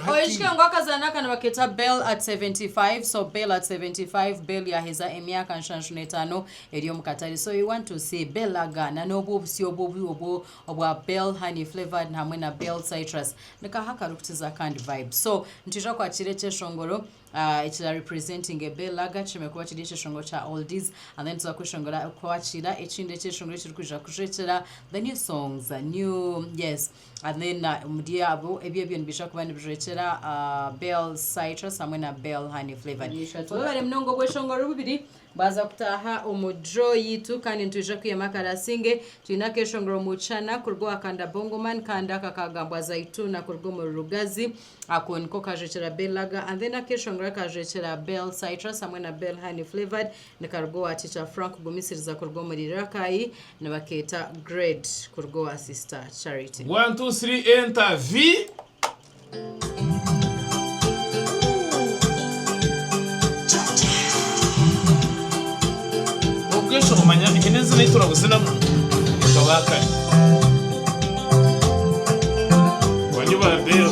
Oyijuke ngu akazaana aka nibakeeta Bell at seventy five so Bell at seventy five Bell yaaheza emyaka nshanju n'etaano eri omu katare so you want to see Bell Lager na n'obwo obusyo obwo obwo obwo obwa Bell Honey Flavoured hamwe na Bell Citrus ni kaaha akarikukiza kandi vibe so nitwija kwakiira ekyeshongoro ah, ekira representinge Bell Lager kishemeriire kuba kiri ekyeshongoro kya oldies and then tuza kweshongora kwakiira ekindi ekyeshongoro ekirikwija kujwekyera the new songs new yes And then omuri abo ebi ebyo nibiija kuba nibirekyera Bell Citrus hamwe na Bell Honey Flavored. Nibishatu. Mwebare munonga obweshonga ori bubiri bwaza kutaha omu draw yitu kandi nitwija kwihemu akarasinge. Twine akeshongero omu Chana kuruga owa Kanda Bongo Man kandi aka kagambwa Zaituna kuruga omuri Rugazi. Ako niko kajwekyera Bell Lager and then akeshongero akajwekyera Bell Citrus hamwe na Bell Honey Flavored Nikaruga owa Kicwa Frank kugumisiriza kuruga omuri Rakai nibakeeta Grade kuruga owa Sister Charity. One two three enter vi. Okwesha omanya hine ezina eyi turabuzinamu nka ba kare. Wanyu ba Bell.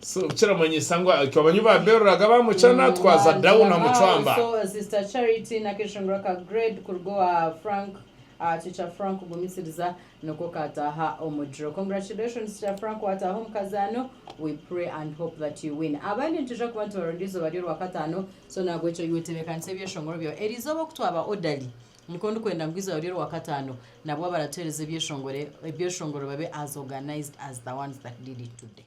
So kiramanyisa ngu itwe abanyu ba beruraga ba muchana twaza down na muchwamba. So sister charity nakeshongora ka grade kuruga owa frank aha kikya frank kugumisiriza niko kataha omugiro congratulations kikya frank wataha omukazano we pray and hope that you win abandi nitwija kuba nitubaronda eizoba ryorwakatano so nahabwekyo iwe tebekanisa ebyeshongoro byawe erizooba okutwaba odali Nikwo ndikwenda ngu eizooba ry'orwa Kataano nabwo abaratuheereza ebyeshongore ebyeshongoro babe as organised as the ones that did it today.